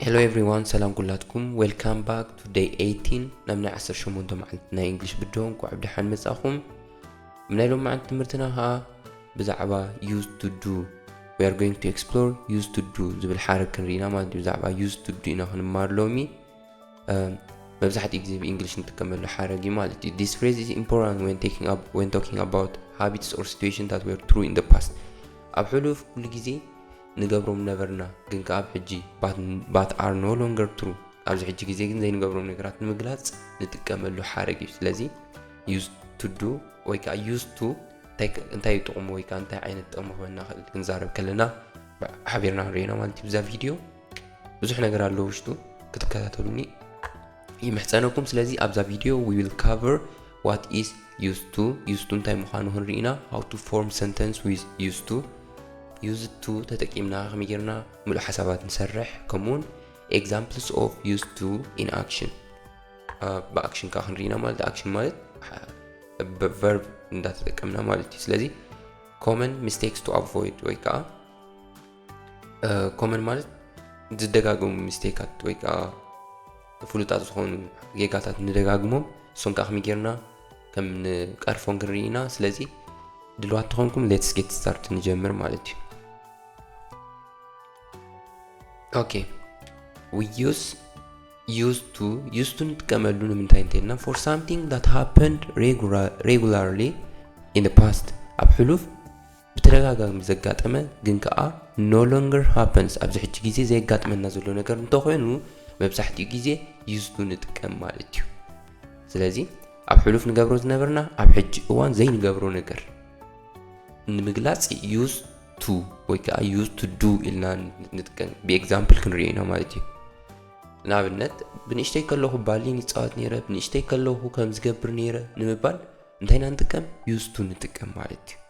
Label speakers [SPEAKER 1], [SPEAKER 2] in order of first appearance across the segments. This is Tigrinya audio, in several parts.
[SPEAKER 1] ሄሎ ኤቭሪዋን ሰላም ኩላትኩም ዌልካም ባክ ቱ ደይ 18 ናብ ናይ 18 መዓልቲ ናይ እንግሊሽ ብድሆ እንኳዕ ብደሓን መጻኹም ኣብ ናይ ሎም መዓልቲ ትምህርትና ከዓ ብዛዕባ ዩዝ ቱ ዱ ዊ ኣር ጎይንግ ቱ ኤክስፕሎር ዩዝ ቱ ዱ ዝብል ሓረግ ክንርኢና ማለት እዩ ብዛዕባ ዩዝ ቱ ዱ ኢና ክንማር ሎሚ መብዛሕትኡ ግዜ ብእንግሊሽ ንጥቀመሉ ሓረግ እዩ ማለት እዩ ዲስ ፍሬዝ ኢዝ ኢምፖርታንት ወን ቴኪንግ ኣፕ ወን ቶኪንግ ኣባውት ሃቢትስ ኦር ሲትዌሽን ታት ወር ትሩ ኢን ደ ፓስት ኣብ ሕሉፍ ኩሉ ግዜ ንገብሮም ነበርና ግን ከኣብ ሕጂ ባት ኣር ኖ ሎንገር ትሩ ኣብዚ ሕጂ ግዜ ግን ዘይንገብሮም ነገራት ንምግላጽ ንጥቀመሉ ሓረግ እዩ ስለዚ ዩዝ ቱ ዱ ወይ ከዓ ዩዝ ቱ እንታይ እዩ ጥቕሙ ወይ ከዓ እንታይ ዓይነት ጥቕሚ ክበና ክእል ክንዛረብ ከለና ሓቢርና ንሪኦና ማለት እዩ ብዛ ቪድዮ ብዙሕ ነገር ኣሎ ውሽጡ ክትከታተሉኒ ይምሕፀነኩም ስለዚ ኣብዛ ቪድዮ ዊ ዊል ካቨር ዋት ኢዝ ዩዝ ቱ ዩዝ ቱ እንታይ ምዃኑ ክንርኢና ሃው ቱ ፎርም ሰንተንስ ዊዝ ዩዝ ቱ ዩዝ ቱ ተጠቂምና ከመይ ጌርና ምሉእ ሓሳባት ንሰርሕ ከምኡውን ኤግዛምፕልስ ኦፍ ዩዝ ቱ ኢን ኣክሽን ብኣክሽን ከዓ ክንርኢና ማለት ኣክሽን ማለት ቨርብ እንዳተጠቀምና ማለት እዩ ስለዚ ኮመን ሚስቴክስ ቱ ኣቮይድ ወይ ከዓ ኮመን ማለት ዝደጋገሙ ሚስቴካት ወይ ከዓ ፍሉጣት ዝኾኑ ጌጋታት ንደጋግሞም እሶም ከዓ ከመይ ጌርና ከም ንቀርፎም ክንርኢ ኢና ስለዚ ድልዋት ተኾንኩም ሌትስ ጌት ስታርት ንጀምር ማለት እዩ ኦኬ ዩስ ዩስ ቱ ዩስ ቱ ንጥቀመሉ ንምንታይ እንተልና ፎር ሳምቲንግ ዳት ሃፐንድ ሬጉላርሊ ኢን ፓስት ኣብ ሕሉፍ ብተደጋጋሚ ዘጋጠመ ግን ከኣ no longer happens ኣብዚ ሕጂ ግዜ ዘየጋጥመና ዘሎ ነገር እንተኾይኑ መብዛሕትኡ ግዜ used to ንጥቀም ማለት እዩ። ስለዚ ኣብ ሕሉፍ ንገብሮ ዝነበርና ኣብ ሕጂ እዋን ዘይንገብሮ ነገር ንምግላጽ used to ወይ ከኣ used to do ኢልና ንጥቀም ብኤግዛምፕል ክንሪኦ ኢና ማለት እዩ። ንኣብነት ብንእሽተይ ከለኹ ባሊን ይፃወት ነይረ ብንእሽተይ ከለኹ ከም ዝገብር ነይረ ንምባል እንታይ ኢና ንጥቀም ዩዝቱ ንጥቀም ማለት እዩ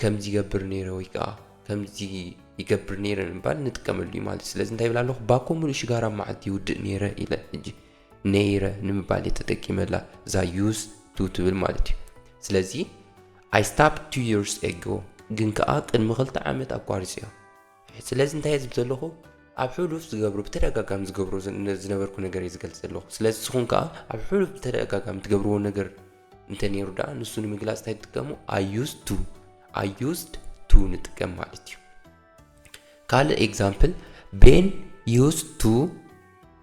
[SPEAKER 1] ከምዚ ይገብር ነይረ ወይ ከዓ ከምዚ ይገብር ነይረ ንምባል ንጥቀመሉ እዩ ማለት ስለዚ እንታይ ይብል ኣለኹ ባኮ ሙሉእ ሽጋራ ኣብ መዓልቲ ይውድእ ነይረ ኢለ ሕጂ ነይረ ንምባል እየ ተጠቂመላ እዛ ዩዝ ቱ ትብል ማለት እዩ ስለዚ ኣይ ስታፕ ቱ ይርስ ኤጎ ግን ከዓ ቅድሚ ክልተ ዓመት ኣቋሪፀዮ ስለዚ እንታይ እየ ዝብል ዘለኹ ኣብ ሕሉፍ ዝገብሮ ብተደጋጋሚ ዝገብሮ ዝነበርኩ ነገር እየ ዝገልጽ ዘለኹ ስለዚ ንስኹም ከኣ ኣብ ሕሉፍ ብተደጋጋሚ ትገብርዎ ነገር እንተ ነይሩ ደኣ ንሱ ንምግላጽ እንታይ ትጥቀሙ ኣዩዝ ቱ ኣዩዝድ ቱ ንጥቀም ማለት እዩ ካልእ ኤግዛምፕል ቤን ዩዝ ቱ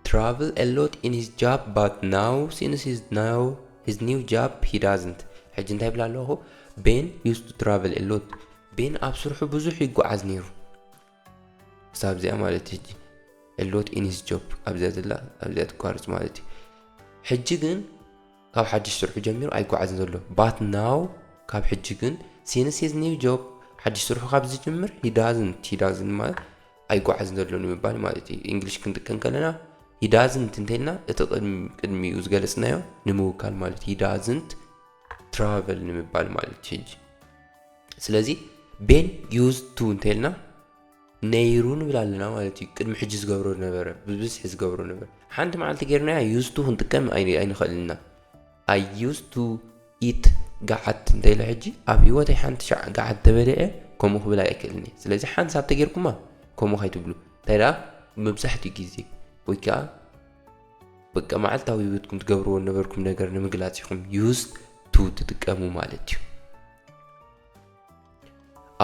[SPEAKER 1] ትራቭል ኤሎት ኢን ሂዝ ጃብ ባት ናው ሲንስ ሂዝ ናው ሂዝ ኒው ጃብ ሂ ዳዝንት ሕጂ እንታይ ይብላ ኣለኹ ቤን ዩዝ ቱ ትራቭል ኤሎት ቤን ኣብ ስርሑ ብዙሕ ይጎዓዝ ኔሩ ክሳብ እዚኣ ማለት እዩ ሕጂ a lot in his job ኣብዚኣ ዘላ ኣብዚኣ ትቋርጽ ማለት እዩ ሕጂ ግን ካብ ሓድሽ ስርሑ ጀሚሩ ኣይጓዓዝን ዘሎ but now ካብ ሕጂ ግን since his new job ሓድሽ ስርሑ ካብ ዝጅምር he doesn't he doesn't ማለት ኣይጓዓዝን ዘሎ ንምባል ማለት እዩ እንግሊሽ ክንጥቀም ከለና he doesn't እንተልና እቲ ቅድሚኡ ዝገለጽናዮ ንምውካል ማለት he doesn't travel ንምባል ማለት እዩ ሕጂ ስለዚ ቤን ዩዝ ቱ እንተልና ነይሩ ንብል ኣለና ማለት እዩ ቅድሚ ሕጂ ዝገብሮ ነበረ ብብዝሒ ዝገብሮ ነበር ሓንቲ መዓልቲ ጌርናያ ዩዝ ቱ ክንጥቀም ኣይንኽእልና ኣይ ዩዝ ቱ ኢት ገዓት እንተኢለ ሕጂ ኣብ ህይወተይ ሓንቲ ሸዓ ገዓት ተበልዐ ከምኡ ክብል ኣይክእልን እየ ስለዚ ሓንሳብ ተጌርኩማ ከምኡ ከይትብሉ እንታይ ደኣ መብዛሕትኡ ግዜ ወይ ከዓ በቃ መዓልታዊ ህይወትኩም ትገብርዎ ነበርኩም ነገር ንምግላጽ ኢኹም ዩዝ ቱ ትጥቀሙ ማለት እዩ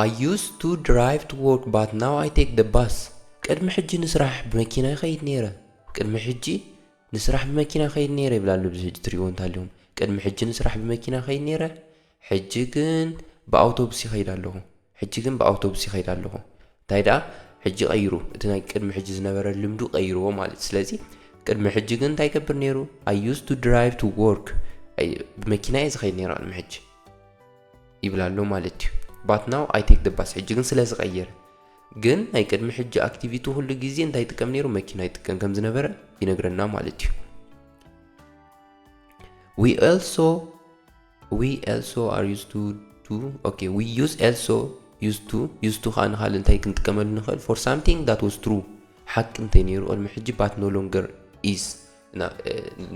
[SPEAKER 1] I used to drive to work but now I take the bus ቅድሚ ሕጂ ንስራሕ ብመኪና ይኸይድ ነይረ ቅድሚ ሕጂ ንስራሕ ብመኪና ይኸይድ ነይረ ይብላሉ ብዚ ሕጂ ትሪእዎ እንታልዮም ቅድሚ ሕጂ ንስራሕ ብመኪና ይኸይድ ነይረ ሕጂ ግን ብኣውቶቡስ ይኸይድ ኣለኹ ሕጂ ግን ብኣውቶቡስ ይኸይድ ኣለኹ እንታይ ደኣ ሕጂ ቀይሩ እቲ ናይ ቅድሚ ሕጂ ዝነበረ ልምዱ ቀይርዎ ማለት ስለዚ ቅድሚ ሕጂ ግን እንታይ ይገብር ነይሩ ኣይ ዩዝ ቱ ድራይቭ ቱ ወርክ ብመኪና እየ ዝኸይድ ነይሩ ቅድሚ ሕጂ ይብል ኣሎ ማለት እዩ ባት ናው ኣይ ቴክ ደባስ ሕጂ ግን ስለ ዝቐየረ ግን ናይ ቅድሚ ሕጂ ኣክቲቪቲ ኩሉ ግዜ እንታይ ይጥቀም ነይሩ መኪና ይጥቀም ከም ዝነበረ ይነግረና ማለት እዩ ዊ ኦልሶ ዊ ኤልሶ ኣር ዩዝ ቱ ቱ ኦኬ ዊ ዩዝ ኤልሶ ዩዝ ቱ ዩዝ ቱ ከኣ ንኻልእ እንታይ ክንጥቀመሉ ንኽእል ፎር ሳምቲንግ ዳት ዋዝ ትሩ ሓቂ እንተይ ነይሩ ኦልሚ ሕጂ ባት ኖ ሎንገር ኢዝ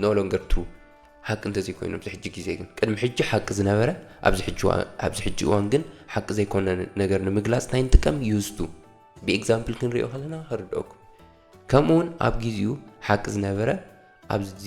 [SPEAKER 1] ኖ ሎንገር ትሩ ሓቂ እንተዘይኮይኑ ኣብዚ ሕጂ ግዜ ግን ቅድሚ ሕጂ ሓቂ ዝነበረ ኣብዚ ሕጂ እዋን ግን ሓቂ ዘይኮነ ነገር ንምግላጽ እንታይ ንጥቀም ዩዝቱ ብኤግዛምፕል ክንሪኦ ከለና ክርድኦኩም ከምኡውን ኣብ ግዜኡ ሓቂ ዝነበረ ኣብዚ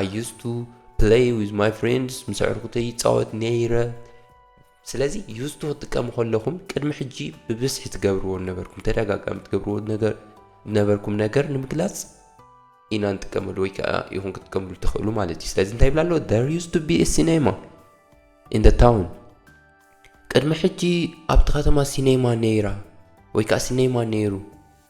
[SPEAKER 1] I used to play with my friends ምስ ኣዕሩኽተይ ይጻወት ነይረ ስለዚ used to ክትጥቀሙ ከለኹም ቅድሚ ሕጂ ብብዝሒ ትገብርዎ ነበርኩም ተደጋጋሚ ትገብርዎ ነገር ነበርኩም ነገር ንምግላጽ ኢና ንጥቀመሉ ወይ ከዓ ይኹን ክትጥቀምሉ ትኽእሉ ማለት እዩ ስለዚ እንታይ ይብላ ኣሎ there used to be a cinema in the town ቅድሚ ሕጂ ኣብቲ ከተማ ሲኔማ ነይራ ወይ ከዓ ሲኔማ ነይሩ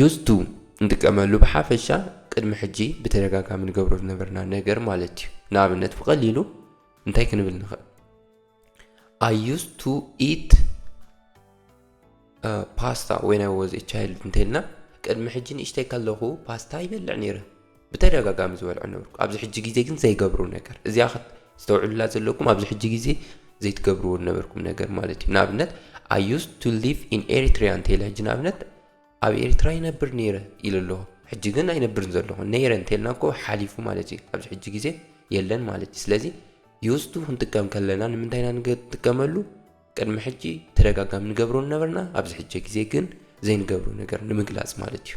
[SPEAKER 1] ዩዝ ቱ ንጥቀመሉ ብሓፈሻ ቅድሚ ሕጂ ብተደጋጋሚ ንገብሮ ዝነበርና ነገር ማለት እዩ ንኣብነት ብቐሊሉ እንታይ ክንብል ንኽእል ኣይ ዩዝ ቱ ኢት ፓስታ ወይን ኣይ ወዝ ቻይልድ እንተልና ቅድሚ ሕጂ ንእሽተይ ከለኹ ፓስታ ይበልዕ ነይረ ብተደጋጋሚ ዝበልዖ ነበርኩ ኣብዚ ሕጂ ግዜ ግን ዘይገብሮ ነገር እዚኣ ክተስተውዕሉላ ዘለኩም ኣብዚ ሕጂ ግዜ ዘይትገብርዎ ነበርኩም ነገር ማለት እዩ ንኣብነት ኣይ ዩስ ቱ ሊቭ ኢን ኤሪትሪያ እንተኢለ ሕጂ ንኣብነት ኣብ ኤርትራ ይነብር ነይረ ኢሉ ኣለኹ ሕጂ ግን ኣይነብርን ዘለኹ ነይረ እንተልና እኮ ሓሊፉ ማለት እዩ ኣብዚ ሕጂ ግዜ የለን ማለት እዩ ስለዚ ዩስቱ ክንጥቀም ከለና ንምንታይ ኢና ንጥቀመሉ ቅድሚ ሕጂ ተደጋጋሚ ንገብሮ ነበርና ኣብዚ ሕጂ ግዜ ግን ዘይንገብሮ ነገር ንምግላፅ ማለት እዩ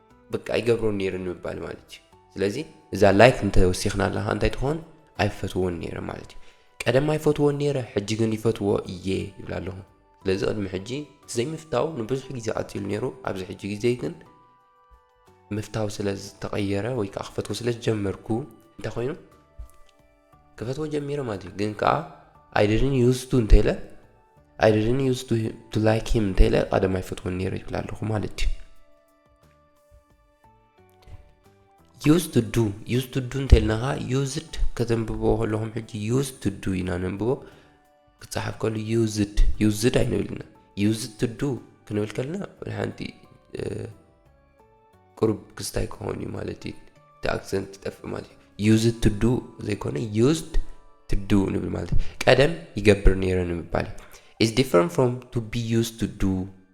[SPEAKER 1] በቃ ይገብሮ ነይረ ንምባል ማለት እዩ ስለዚ እዛ ላይክ እንተወሲኽናላ ከዓ እንታይ ትኾን ኣይፈትዎን ነይረ ማለት እዩ ቀደም ኣይፈትዎን ነይረ ሕጂ ግን ይፈትዎ እየ ይብል ኣለኹ ስለዚ ቅድሚ ሕጂ ዘይምፍታው ንብዙሕ ግዜ ቀፂሉ ነይሩ ኣብዚ ሕጂ ግዜ ግን ምፍታው ስለ ዝተቐየረ ወይ ከዓ ክፈትዎ ስለ ዝጀመርኩ እንታይ ኮይኑ ክፈትዎ ጀሚረ ማለት እዩ ግን ከዓ ኣይደድን ዩዝቱ እንተኢለ ኣይደድን ዩዝቱ ቱ ላይክ ሂም እንተኢለ ቀደም ኣይፈትዎን ነይረ ይብል ኣለኹ ማለት እዩ ዩዝ ቱ ዱ ዩዝ ቱ ዱ እንተልናኻ ዩዝድ ከተንብቦ ከለኹም ሕጂ ዩዝ ቱ ዱ ኢና ነንብቦ ክፀሓፍ ከሉ ዩዝድ ዩዝድ ኣይንብልና ዩዝ ቱ ዱ ክንብል ከለና ሓንቲ ቅሩብ ክስታይ ክኾን እዩ ማለት እዩ እቲ ኣክሰንት ይጠፍእ ማለት እዩ ዩዝ ቱ ዱ ዘይኮነ ዩዝድ ቱ ዱ ንብል ማለት እዩ ቀደም ይገብር ነይረ ንምባል እዩ ኢዝ ዲፍረንት ፍሮም ቱ ቢ ዩዝ ቱ ዱ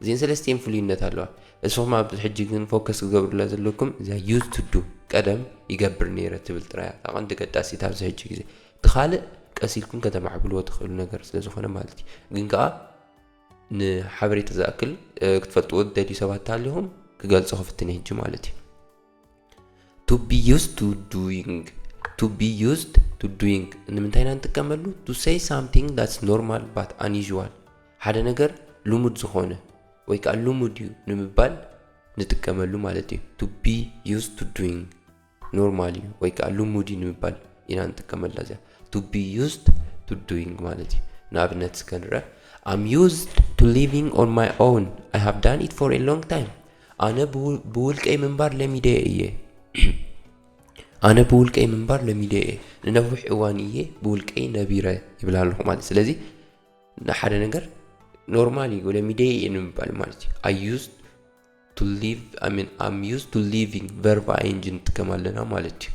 [SPEAKER 1] እዚኤን ሰለስቲኤን ፍሉይነት ኣለዋ እስኹም ኣብዚ ሕጂ ግን ፎከስ ክገብርላ ዘለኩም እዛ ዩዝ ቱ ዱ ቀደም ይገብር ኔረ ትብል ጥራይ እያ እታ ቀንዲ ገዳሲት ኣብዚ ሕጂ ግዜ እቲ ካልእ ቀስ ኢልኩም ከተማዕብልዎ ትኽእሉ ነገር ስለ ዝኾነ ማለት እዩ ግን ከኣ ንሓበሬታ ዝኣክል ክትፈልጥዎ ዝደልዩ ሰባት እንተሃሊኹም ክገልጾ ክፍትን እየ ሕጂ ማለት እዩ ቱ ቢ ዩዝድ ቱ ዱይንግ ቱ ቢ ዩዝድ ቱ ዱይንግ ንምንታይ ኢና ንጥቀመሉ ቱ ሰይ ሳምቲንግ ዳትስ ኖርማል ባት ኣንዩዥዋል ሓደ ነገር ልሙድ ዝኾነ ወይ ከዓ ልሙድ እዩ ንምባል ንጥቀመሉ ማለት እዩ ቱ ቢ ዩዝድ ቱ ዱይንግ ኖርማል እዩ ወይ ከዓ ልሙድ እዩ ንምባል ኢና ንጥቀመላ እዚኣ ቱ ቢ ዩዝድ ቱ ዱይንግ ማለት እዩ ንኣብነት እስከ ንርአ ኣም ዩዝድ ቱ ሊቪንግ ኦን ማይ ኦውን ኣይ ሃቭ ዳን ኢት ፎር ኤ ሎንግ ታይም ኣነ ብውልቀይ ምንባር ለሚደዮ እየ ኣነ ብውልቀይ ምንባር ለሚደዮ እየ ንነዊሕ እዋን እየ ብውልቀይ ነቢረ ይብል ኣለኹ ማለት ስለዚ ንሓደ ነገር ኖርማል እዩ ለሚደዮ እየ ንምባል ማለት እዩ ኣይ ዩዝ ቱ ሊቭ ኣይ ሚን ኣም ዩዝ ቱ ሊቪንግ ቨርብ ኣይንጂ ንጥቀም ኣለና ማለት እዩ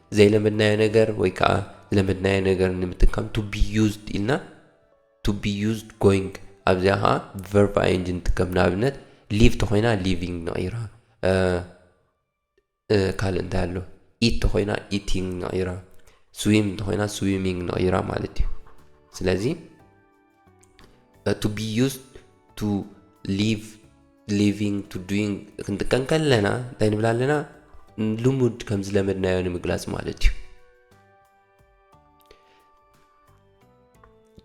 [SPEAKER 1] ዘይለመድናዮ ነገር ወይ ከኣ ዝለመድናዮ ነገር ንምጥቃም to be used ኢልና to be used going ኣብዚኣ ከኣ verb ing ንጥቀም ንኣብነት live ተኾይና living ንቕይራ ካልእ እንታይ ኣሎ ኢት ተኾይና ኢቲንግ ንቕይራ ስዊም እንተኾይና ስዊሚንግ ንቕይራ ማለት እዩ ስለዚ ቱ ቢ ዩስድ ቱ ሊቭ ሊቪንግ ቱ ዱይንግ ክንጥቀም ከለና እንታይ ንብል ኣለና ልሙድ ከም ዝለመድናዮ ንምግላጽ ማለት እዩ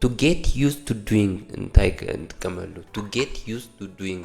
[SPEAKER 1] ቱ ጌት ዩስ ቱ ዱይንግ እንታይ ንጥቀመሉ ቱ ጌት ዩስ ቱ ዱይንግ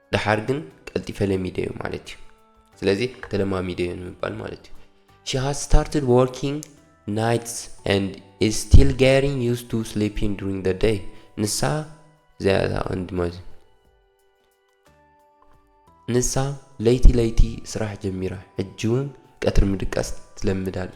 [SPEAKER 1] ደሓር ግን ቀልጢፈ ለሚደዮ ማለት እዩ ስለዚ ተለማሚደዮ ንምባል ማለት እዩ ሺ ሃዝ ስታርትድ ወርኪንግ ናይትስ ኤንድ ኢዝ ስቲል ጌሪንግ ዩስ ቱ ስሊፒንግ ዱሪንግ ደ ደይ ንሳ እዚኣ እታ ቀንዲ ማለት እዩ ንሳ ለይቲ ለይቲ ስራሕ ጀሚራ ሕጂ እውን ቀትሪ ምድቃስ ትለምድ ኣላ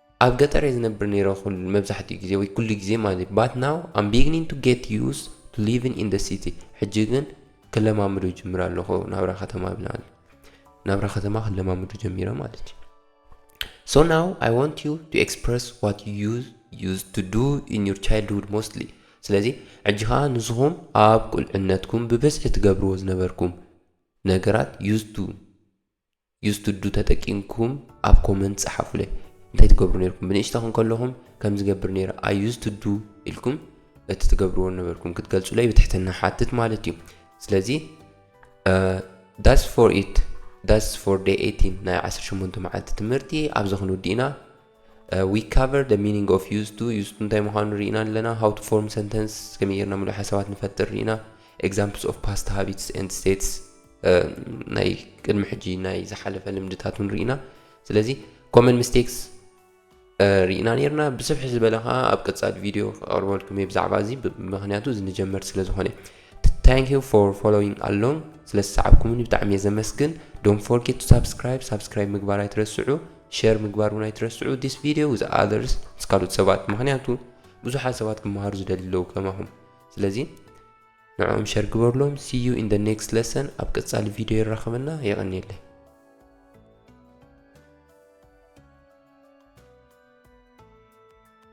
[SPEAKER 1] ኣብ ገጠር እየ ዝነብር ነይረ ኩሉ መብዛሕትኡ ግዜ ወይ ኩሉ ግዜ ማለት እዩ ባት ናው ኣም ቢግኒን ቱ ጌት ዩዝ ቱ ሊቭን ኢን ደ ሲቲ ሕጂ ግን ክለማምዶ ጅምር ኣለኹ ናብራ ከተማ ብናል ናብራ ከተማ ክለማምዶ ጀሚረ ማለት እዩ ሶ ናው ኣይ ዋንት ዩ ቱ ኤክስፕረስ ዋት ዩ ዩዝ ቱ ዱ ኢን ዩር ቻይልድሁድ ሞስትሊ ስለዚ ሕጂ ከዓ ንስኹም ኣብ ቁልዕነትኩም ብብዝሒ ትገብርዎ ዝነበርኩም ነገራት ዩዝ ቱ ዩዝቱዱ ተጠቂምኩም ኣብ ኮመንት ጸሓፉለይ እንታይ ትገብሩ ነርኩም ብንእሽተኹም ከለኹም ከም ዝገብር ነይረ ኣይ ዩዝቱዱ ኢልኩም እቲ ትገብርዎ ነበርኩም ክትገልጹለይ ብትሕትና ሓትት ማለት እዩ ስለዚ ዳስ ፎር ኢት ዳስ ፎር ደይ ኤቲን ናይ ዓሰርተ ሸሞንተ መዓልቲ ትምህርቲ ኣብዚ ክንውድእ ኢና We cover the meaning of used to used to እንታይ ምዃኑ ርኢና ኣለና How to form sentence ከመይ ጌርና ምሉእ ሓሳባት ንፈጥር ርኢና Examples of past habits and states ናይ ቅድሚ ሕጂ ናይ ዝሓለፈ ልምድታት እውን ርኢና ስለዚ ኮመን ሚስቴክስ ርኢና ነርና ብስፍሒ ዝበለ ከዓ ኣብ ቀፃሊ ቪድዮ ክቐርበልኩም እየ ብዛዕባ እዚ ምክንያቱ እዚ ንጀመርቲ ስለ ዝኾነ ታንክ ዩ ፎር ፎሎዊንግ ኣሎንግ ስለ ዝሰዓብኩምኒ ብጣዕሚ እየ ዘመስግን ዶን ፎርጌት ቱ ሳብስክራይብ ሳብስክራይብ ምግባር ኣይትረስዑ ሸር ምግባር ውን ኣይትረስዑ this video with others ምስ ካልኦት ሰባት ምኽንያቱ ብዙሓት ሰባት ክመሃሩ ዝደልዩ ኣለዉ ከማኹም ስለዚ ንዕኦም ሸር ግበርሎም see you in the next lesson ኣብ ቀጻሊ ቪድዮ የራኽበና የቐንየለይ